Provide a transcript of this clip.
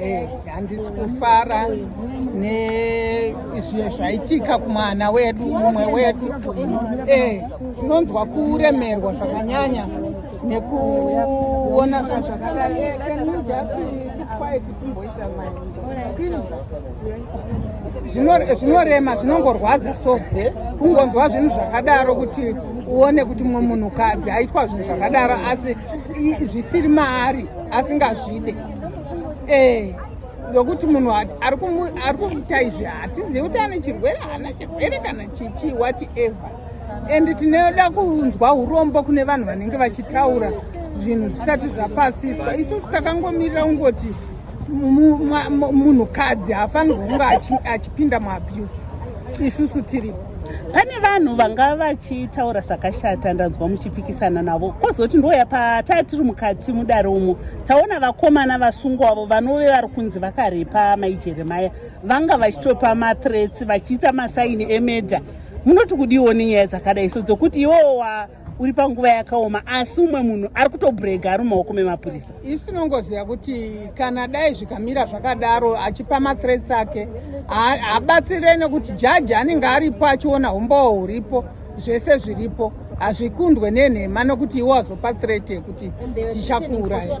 Eh, handisi kufara nezviye zvaitika kumwana wedu mumwe wedu eh, tinonzwa kuremerwa zvakanyanya nekuona zvinhu zvakadai eh, zvinorema zvinongorwadza so kungonzwa zvinhu zvakadaro kuti uone kuti mumwe munhukadzi aitwa zvinhu zvakadaro asi zvisiri maari asingazvide eh ndokuti munhu ari kumuita izvi hatizivi kuti ane chirwere haana chirwere kana chichi what ever and tinoda kunzwa urombo kune vanhu vanenge vachitaura zvinhu zvisati zvapasiswa isusu takangomirira kungoti munhukadzi haafanirwa kunge achipinda muabuse isusu tiripo pane vanhu vanga vachitaura zvakashata ndanzwa muchipikisana navo kozoti ndoya pataa tiri mukati mudare umo taona vakomana vasungwa avo vanove vari kunzi vakarepa mai jeremaya vanga vachitopa mathreats vachiita masaini emedha munoti kudiwo nenyaya dzakadai so dzokuti iwowa uri panguva yakaoma asi umwe munhu ari kutobrega ari mumaoko memapurisa isu tinongoziva kuti kana dai zvikamira zvakadaro achipa mathreats ake habatsire nekuti jaji anenge aripo achiona umbowo huripo zvese zviripo hazvikundwe nenhema nokuti iwo azopa threat yekuti tichakuuraya